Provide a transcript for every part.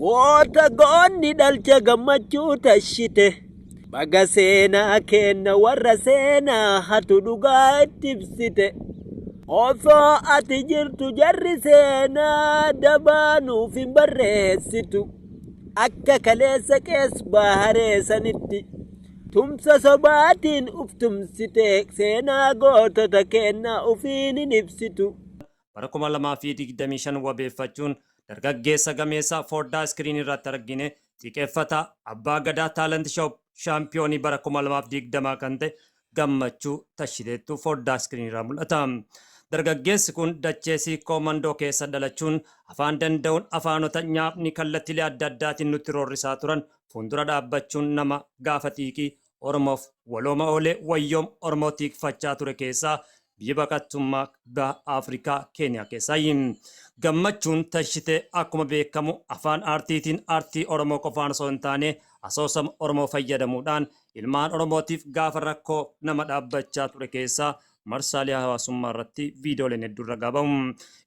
Goota goonni dhalcha gammachuu tashite baga seenaa keenna warra seenaa hatu dhugaa itti ibsite osoo ati jirtu jarri seenaa dabaa nuuf hin barreessitu akka kaleessa qees baharee sanitti tumsa sobaatiin uf tumsite seenaa gootota keennaa ufiin hin ibsitu. bara 2025 wabeeffachuun dargaggeessa gameessa foddaa iskiriinii irratti argine xiqeeffataa Abbaa Gadaa Talent Shop shaampiyoonii bara 2020 kan ta'e Gammachuu Tashileettu foddaa iskiriinii irraa mul'ata. Dargaggeessi kun dachee Siikkoo Mandoo keessa dhalachuun afaan danda'uun afaanota nyaapni kallattilee adda addaatiin nutti roorrisaa turan fuundura dhaabbachuun nama gaafa xiiqii Oromoof walooma oolee wayyoom Oromoo tiikfachaa ture keessaa biyya baqattummaa baha Afrikaa Keeniyaa keessaayi. Gammachuun Tashitee akkuma beekamu afaan aartiitiin aartii Oromoo qofaan osoo hin taane asoosama Oromoo fayyadamuudhaan ilmaan Oromootiif gaafa rakkoo nama dhaabbachaa ture keessaa marsaalee hawaasummaa irratti viidiyooleen hedduun ragaa bahu.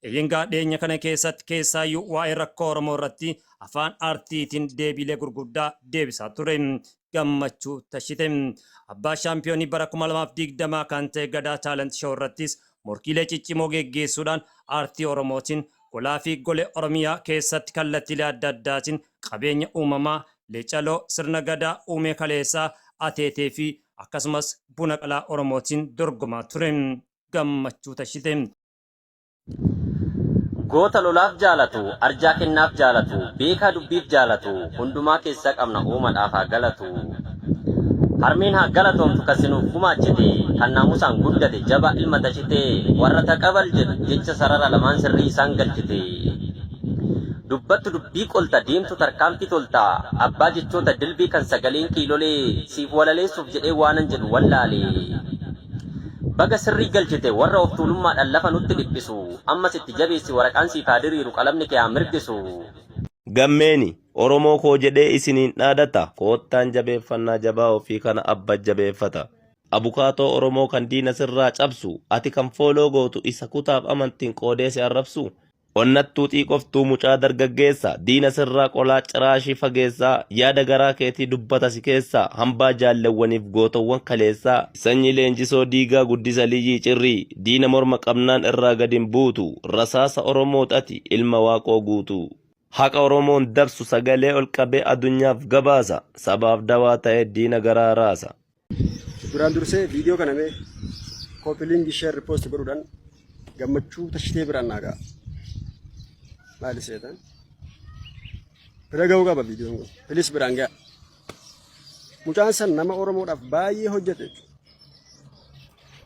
Eeyyeengaa dhiyeenya kana keessatti keessaayyuu waa'ee rakkoo Oromoo irratti afaan aartiitiin deebiilee gurguddaa deebisaa ture. gammachuu tashite. Abbaa shaampiyoonii bara 2020 kan ta'e Gadaa Taalent Show irrattis morkiilee ciccimoo geggeessuudhaan aartii Oromootiin golaa fi golee Oromiyaa keessatti kallattiilee adda addaatiin qabeenya uumamaa Lecaloo sirna Gadaa uumee kaleessaa ateetee fi akkasumas buna qalaa Oromootiin dorgomaa ture. Gammachuu tashite. Goota lolaaf jaalatu, arjaa kennaaf jaalatu, beekaa dubbiif jaalatu, hundumaa keessaa qabna uumadhaaf haa galatu. Harmeen haa galatoomtu kan si nuuf gumaachite, kan naamusaan guddate jabaa ilma tashite, warra taqabal jedhu jecha sarara lamaan sirrii isaan galchite. Dubbattu dubbii qolta, deemtu tarkaanfii tolta, abbaa jechoota dilbii kan sagaleen kiilolee, siif walaleessuuf jedhee waanan jedhu wallaale. Baga sirrii galchite warra of tuulummaadhaan lafa nutti dhiphisu. Ammas itti jabeessi waraqaan siif haa diriiru qalamni kee haa mirgisu. Gammeeni Oromoo koo jedhee isiniin dhaadata koottaan jabeeffannaa jabaa ofii kana abba jabeeffata. Abukaatoo Oromoo kan diina sirraa cabsu ati kan follow gootu isa kutaaf amantiin qoodee si arrabsuu? Onnattuu xiiqoftuu mucaa dargaggeessa diina sirraa qolaa ciraashii fageessaa yaada garaa keetii dubbata si keessaa hambaa jaallewwaniif gootowwan kaleessaa sanyii leenjisoo diigaa guddisa liyyii cirrii diina morma qabnaan irraa gad hin buutu rasaasa oromoot ati ilma waaqoo guutuu. Haqa oromoon dabsu sagalee ol qabee adunyaaf gabaasa sabaaf dawaa ta'ee diina garaa raasa. Duraan dursee viidiyoo kana mee koopi liingi sheer ripoosti godhuudhaan gammachuu tashitee biraan naa ga'a. Maali seetan? Bira ga'uu qaba viidiyoon kun. Pilis biraan ga'a. Mucaan san nama Oromoodhaaf baay'ee hojjete.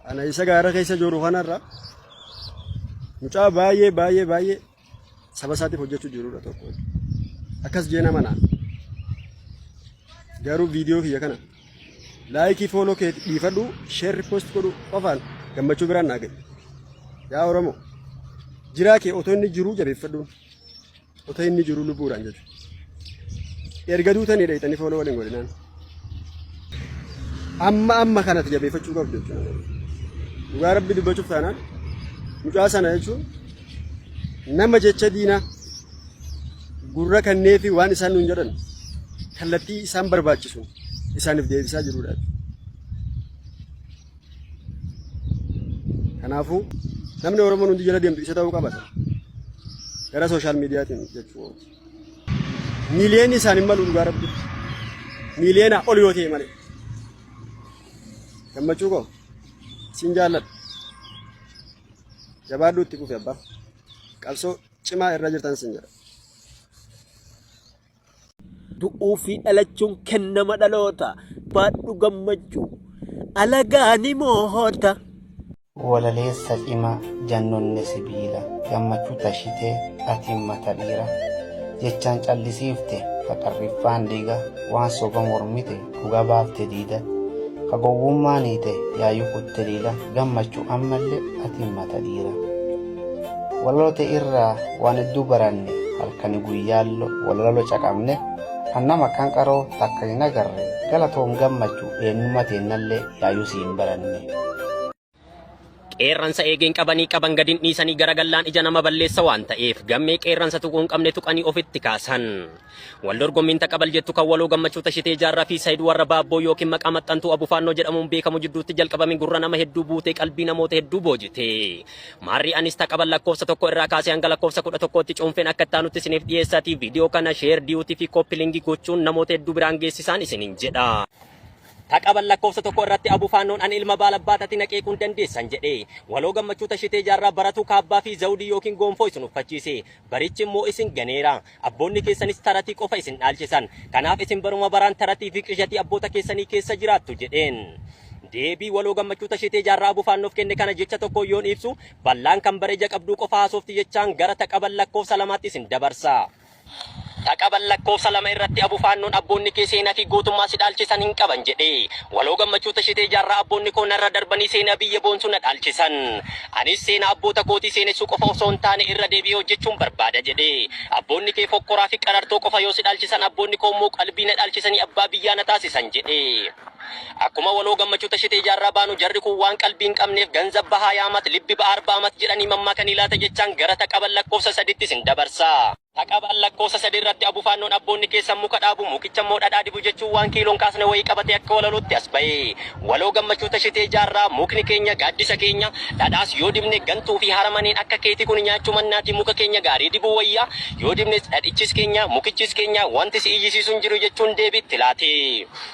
Ana isa gaara keessa jiru kanarra mucaa baay'ee baay'ee baay'ee saba isaatiif hojjechuu jirudha tokko akkas jeen amanaa garuu viidiyoo kiyya kana laayikii fooloo kee dhiifadhu sheerri post godhu qofaan gammachuu biraan naa gahe yaa oromoo jiraa kee otoo inni jiruu jabeeffadhuun otoo inni jiruu lubbuudhaan jechuudha. Erga duutanii dhayxanii fooloo waliin godhinaan. Amma amma kanatti jabeeffachuu qabdu jechuudha. Dhugaa rabbi dubbachuuf taanaan mucaa sana jechuun nama jecha diinaa gurra kannee fi waan isaan nuun jedhan kallattii isaan barbaachisu isaaniif deebisaa jirudha. Kanaafuu namni Oromoon hundi jala deemtu isa ta'uu qaba. Gara sooshaal miidiyaatiin jechuudha. Miiliyoonni isaan hin malu dhugaa rabbi. Miiliyoona ol yoo ta'e malee. Gammachuu koo siin jaalladha. Jabaadhuu itti fufi abbaa. Qabsoo cimaa irra jirtan siin jedha. Du'uu fi dhalachuun kennama dhaloota. Baadhu gammachuu alagaa ni moohota. Walaleessa cima jannonne sibiila gammachuu tashite atiin mata dhiira jechaan callisiifte haqarriffaan dhiiga waan soba mormite dhugaa baafte diida ka gowwummaan hiite yaayuu kutte diida gammachu ammallee atiin mata dhiira walaloota irraa waan hedduu baranne halkani guyyaallo walaloo caqabne kan nama kan qaroo takka hin agarre galatoom gammachu eenyummaa teennallee yaayuu si hin baranne. Qeerransa eegeen qabanii qaban gadin dhiisanii garagallaan ija nama balleessa waan ta'eef gammee qeerransa tuquun qabne tuqanii ofitti kaasan. Wal dorgommiin taqabal jettu kan waloo gammachuu tashitee jaarraa fi saayid warra baabboo yookiin maqaa maxxantuu abufaannoo jedhamuun beekamu jidduutti jalqabame gurra nama hedduu buutee qalbii namoota hedduu boojite. Maarri anis taqabal lakkoofsa tokko irraa kaasee hanga lakkoofsa kudha tokkootti cuunfeen akka ittaanutti isiniif dhiyeessaatii viidiyoo kana sheer diyuutii fi kooppilingi gochuun namoota hedduu biraan geessisaan isiniin jedha. Ta qaban lakkoofsa tokko irratti Abu Faannoon ani ilma baalabbaatati na qeequun dandeessan jedhe. Waloo Gammachuu Tashitee Jaarraa baratuu kaabbaa fi zawudii ykn goonfoo isin uffachiise. Barichi immoo isin ganeera. Abboonni keessanis taratii qofa isin dhaalchisan. Kanaaf isin baruma baraan taratii fi qishatii abboota keessanii keessa jiraattu jedheen. Deebii Waloo Gammachuu Tashitee Jaarraa Abu Faannoof kenne kana jecha tokkoon yoon ibsu ballaan kan bara ija qabduu qofa haasofti jechaan gara ta qaban lakkoofsa lamaatti isin dabarsa. Dhaqaban lakkoofsa 2 irratti Abu Faannoon abboonni kee seenaa fi gootummaa si dhaalchisan hin qaban jedhe. Waloo Gammachuu Tashitee Jaarraa abboonni koo narra darbanii seenaa biyya boonsu na dhaalchisan. Anis seenaa abboota kootii seenessuu qofa osoo hin taane irra deebi'ee hojjechuun barbaada jedhe. Abboonni kee fokkoraa fi qarartoo qofa yoo si dhaalchisan abboonni koo immoo qalbii na dhaalchisanii abbaa biyyaa na taasisan jedhe. Akkuma waloo gammachuu tashitee ijaarraa baanu jarri kun waan qalbii hin qabneef ganzab bahaa yaamat libbi ba'aar baamat jedhanii mammaakanii laata jechaan gara taqabal lakkoofsa sadiitti isin dabarsa. Taqabal lakkoofsa sadii irratti abufaannoon abboonni keessan muka dhaabu mukicha immoo dhadhaa dibu jechuun waan kiiloon kaasne wayii qabatee akka walaluutti as bahe. Waloo gammachuu tashitee ijaarraa mukni keenya gaaddisa keenya, dhadhaas yoo dibne gantuu fi haramaneen akka keetii kun nyaachuu mannaatii muka keenya gaarii dibuu wayya, yoo dibnes dhadhichis keenya, mukichis keenya wanti si iyyisiisu hin jiru jechuun deebii itti laate.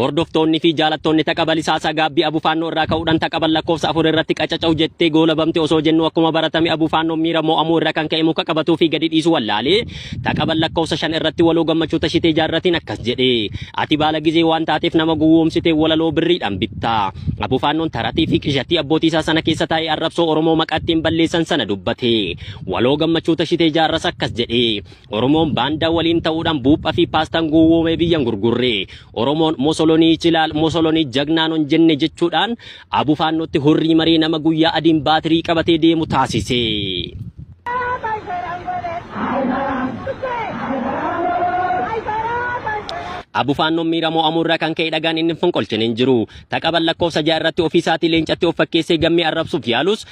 Hordoftoonni fi jaalattoonni taqa balisaasaa gaabbii abufaannoo irraa ka'uudhaan taqaban lakkoofsa afur irratti qacaca'u jettee goolabamte osoo jennu akkuma baratame abufaannoon miira moo'amuu irra kan ka'e muka qabatuu fi gadi dhiisu wallaale taqaban lakkoofsa shan irratti waloo gammachuu tashitee jaarratiin akkas jedhe ati baala gizee waan taateef nama gowwoomsitee walaloo birriidhaan bitta abufaannoon taratii fi qishatii abbootiisaa sana keessa taa'ee arrabsoo oromoo maqaa ittiin balleessan sana dubbate waloo gammachuu tashitee jaarras akkas jedhe Oromoon baandaa waliin ta'uudhaan buupha fi paastaan gowwoomee biyya hin gurgurre. Oromoon Mosolonii Ichilaal, Mosolonii Jagnaa nun jenne jechuudhaan abo Faannootti hurrii maree nama guyyaa adiin baatirii qabatee deemu taasise. Abo Faannoon miira mo'amuu irraa kan ka'e dhagaan inni hin fonqolchine hin jiru. Taqaban lakkoofsa 6 irratti ofii isaatii leencatti of fakkeessee gammee arrabsuuf yaalus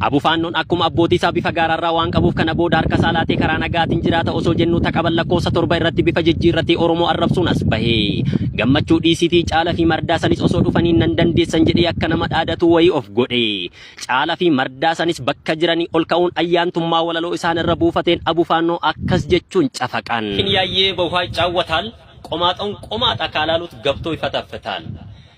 Abu Faannoon akkuma abbootii isaa bifa gaaraarraa waan qabuuf kana booda harka isaa laatee karaa nagaatiin jiraata osoo jennuu ta qaban lakkoofsa 7 irratti bifa jijjiirratee Oromoo arrabsuun as bahe. Gammachuu dhiisiitii Caala fi Mardaasanis osoo dhufanii nan dandeessan jedhee akka nama dhaadatuu wayii of godhe. Caala fi Mardaasanis bakka jiranii ol ka'uun ayyaantummaa walaloo isaan irra buufateen Abu Faannoo akkas jechuun cafaqan. Hin yaayyee bahuhaa iccaawwataal, Qomaaxoon qomaaxa akaalaaluut gabtoo ifatafetaal.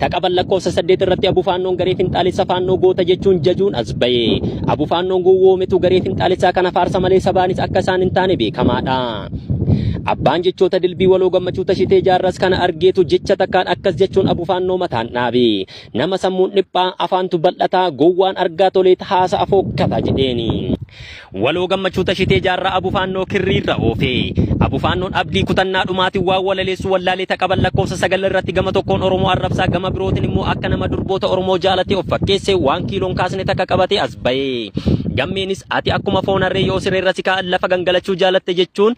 Ta qaban lakkoofsa saddeet irratti Abu Faannoon garee finxaalessa Faannoo goota jechuun jajuun as baye. Abu Faannoon gowwoometu garee finxaalessaa kana faarsa malee sabaanis akka isaan hin taane beekamaadha. Abbaan jechoota dilbii waloo gammachuu tashitee jaarras kana argeetu jecha takkaan akkas jechuun Abu Faannoo mataan dhaabe. Nama sammuun dhiphaa, afaantu bal'ataa, gowwaan argaa toleet haasa afookkataa jedheeni. Waloo Gammachuu Tashitee Jaarraa Abu Faannoo Kirrii irra oofe. Abu Faannoon Abdii kutannaa dhumaatiin waan walaleessu wallaalee ta qaban lakkoofsa sagal irratti gama tokkoon Oromoo arrabsaa gama birootin immoo akka nama durboota Oromoo jaalatee of fakkeesse waan kiiloon kaasne takka qabatee as baye. Gammeenis ati akkuma foon harree yoo siree irra si kaa'an lafa gangalachuu jaalatte jechuun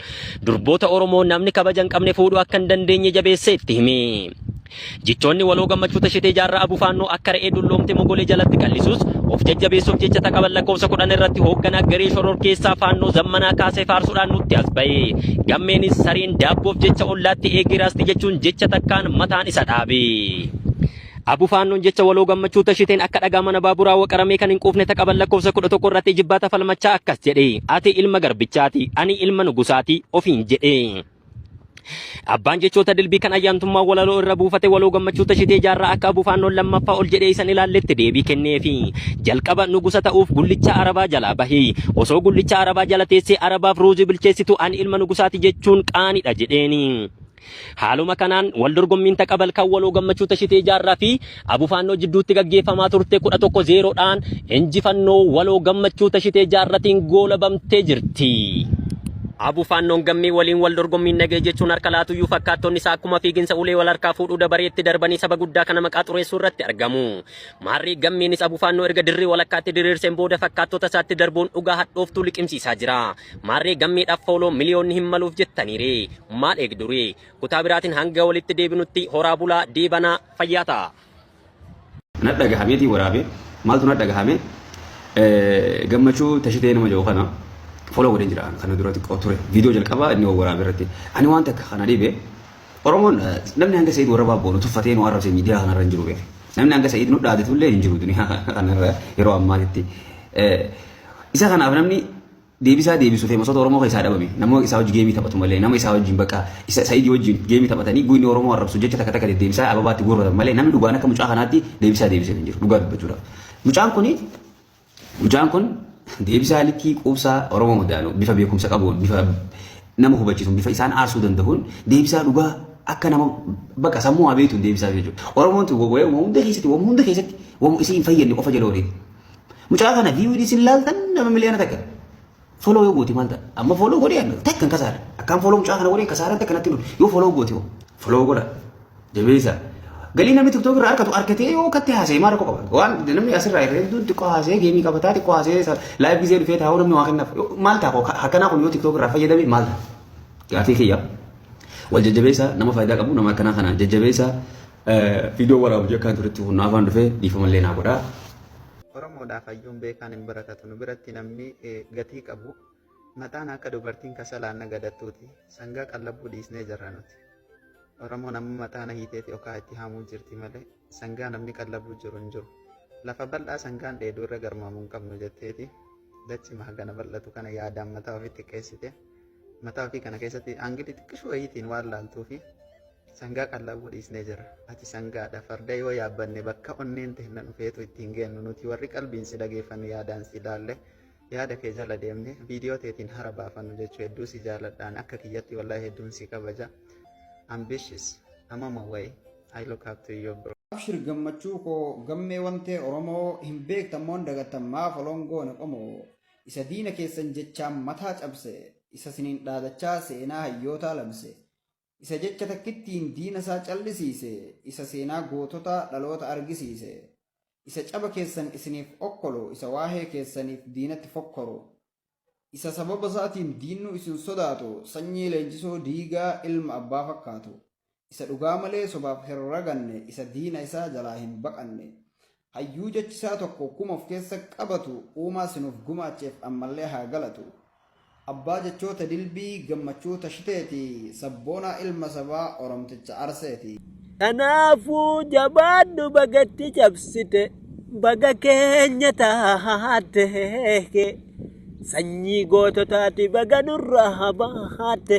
durboota Oromoo namni kabaja hin qabne fuudhuu akka hin dandeenye jabeessee itti hime. Jechoonni waloo Gammachuu Tashetee Jaarraa Abu Faannoo akka re'ee dulloomte mogolee jalatti qallisuus of jajjabeessuuf jecha taqaban lakkoofsa kudhan irratti hoogganaa garee shororkeessaa Faannoo Zammanaa Kaasee faarsuudhaan nutti as bahe. Gammeenis sareen daabboof jecha ollaatti eegee raasti jechuun jecha takkaan mataan isa dhaabe. Abu Faannoon jecha waloo Gammachuu Tasheteen akka dhagaa mana baaburaa waqaramee kan hin quufne taqaban lakkoofsa kudha tokko irratti ijibbaata falmachaa akkas jedhe. Ati ilma garbichaati, ani ilma nugusaati ofiin jedhe. Abbaan jechoota dilbii kan ayyaantummaa walaloo irra buufate waloo gammachuu tashitee jaarraa akka abufaannoon lammaffaa ol jedhee isan ilaalletti deebii kenneefi. Jalqaba nugusa ta'uuf gullicha arabaa jalaa bahi. Osoo gullicha arabaa jala teessee arabaaf ruuzii bilcheessitu ani ilma nugusaati jechuun qaanidha jedheeni. Haaluma kanaan wal dorgommiin taqabal kan waloo gammachuu tashitee jaarraa fi Abo Faannoo jidduutti gaggeeffamaa turte 11-0 dhaan injifannoo waloo gammachuu tashitee jaarratiin goolabamtee jirti. Abo Faannoon gammee waliin wal dorgommiin nagee jechuun harka laatuyyuu fakkaattonni isaa akkuma fiiginsa ulee wal harkaa fuudhuu dabareetti darbanii saba guddaa kana maqaa xureessuu irratti argamu. Maarree gammeenis Abo Faannoo erga dirree walakkaatti diriirseen booda fakkaattota isaatti darbuun dhugaa hadhooftuu liqimsiisaa jira. Maarree gammeedhaaf fooloo miliyoonni hin maluuf jettaniire. Maal eegdure? Kutaa biraatiin hanga walitti deebinutti horaa bulaa deebanaa. fayyaa ta'aa. Nadhagahameetiin waraabe maaltu nadhagahame gammachuu tashitee nama jedhu kana follow godheen jira kana dura xiqqoo ture viidiyoo jalqabaa inni waraabe irratti ani waan takka kana dhibe Oromoon namni hanga Sa'iid warra baaboo nu tuffatee nu arrabse miidiyaa kanarra hin jiru beeku namni hanga Sa'iid nu dhaadatu illee hin jiru duniyaa kanarra yeroo ammaatitti isa kanaaf namni Deebisaa deebisu feemasota oromoo keessaa dhabame nama isaa wajji geemii taphatu malee nama isaa wajjin bakka isa sa'idi wajjin geemii taphatanii guynni oromoo arrabsu jecha takka takka deddeebisaa ababaatti guurratan malee namni dhugaan akka mucaa kanaatti deebisaa deebisee hin jiru dhugaa dubbachuudhaaf mucaan kuni mucaan kun deebisaa likkii quubsaa oromoo madaalu bifa beekumsa qabuun bifa nama hubachiisuun bifa isaan aarsuu danda'uun deebisaa dhugaa akka nama bakka sammuu abeetuun deebisaa jechuudha oromoon tun wayuma hunda keessatti wayuma hunda keessatti wayuma isii hin fayyadne qofa jala ooliti. Mucaa kana VOD sin laaltan nama miliyoona takka. Follow yoo gooti maal ta'a? Amma follow godhee annu takka hin kasaara. Akkaan follow mucaa kana godhee kasaara takka natti hin dhufu. Yoo follow gooti hoo? Follow godha. Jabeessa. Galii namni TikTok irraa argatu argatee yoo katti haasa'e maal rakkoo qaba? Waan namni asirraa irra hedduun xiqqoo haasa'ee geemii qabataa xiqqoo haasa'ee laayif gisee dhufee taa'uu namni waa kennaaf. Yoo- Maal ta'a koo akkanaa kun yoo TikTok irraa fayyadame maal ta'a? Gaafii kiyya. Wal jajjabeessa nama faayidaa qabu nama akkanaa kana jajjabeessa Viidiyoo waraabu jekkaan turetti kun naafaan dhufee dhiifamallee naa godhaa. Oromoodhaaf hayyuun beekaan hin barakatu nu biratti namni gatii qabu mataan akka dubartiin kasalaan nagadattuuti sangaa qallabuu dhiisnee jirra nuti. Oromoon amma mataana hiiteeti okaa itti haamuu jirti malee sangaa namni qallabuu jiru hin jiru. Lafa bal'aa sangaan dheeduu irra garmaamuu hin qabnu jetteeti. Dachi mahagana bal'atu kana yaadaan mataa ofitti qeessite. Mataa ofii kana keessatti aangilii xiqqishuu wayiitiin waan laaltuu fi sangaa qallabu dhiisnee jira. Ati sangaadha farda yoo yaabbanne bakka onneen teenna dhufeetu ittiin geennu nuti warri qalbiin si dhageeffannu yaadaan si ilaalle yaada kee jala deemne viidiyoo teetiin hara baafannu jechuu hedduu si jaaladhaan akka kiyyatti wallahi hedduun si kabaja. Ambitious amama wayi I look up to you bro. Abshir gammachuu koo gammee wantee Oromoo hin beektan moo hin dagattan maa foloon goone qomoo. Isa diina keessan jechaan mataa cabse, isa siniin dhaadachaa seenaa hayyootaa labse, isa jecha takkittiin diina isaa callisiise, isa seenaa goototaa dhaloota argisiise, isa caba keessan isiniif okkolu, isa waahee keessaniif diinatti fokkoru, isa sababa isaatiin diinnu isin sodaatu, sanyii leenjisoo diigaa ilma abbaa fakkaatu. isa dhugaa malee sobaaf hin raganne, isa diina isaa jalaa hin baqanne, hayyuu jechi isaa tokko kuma of keessa qabatu uumaa si nuuf gumaacheef ammallee haa galatu. Abbaa jechoota dilbii Gammachuu Tashiteeti, sabboonaa ilma sabaa Oromticha Arseeti. Kanaafuu jabaadhu baga itti cabsite, baga keenya taate. Sanyii goototaati baga nurraa baate.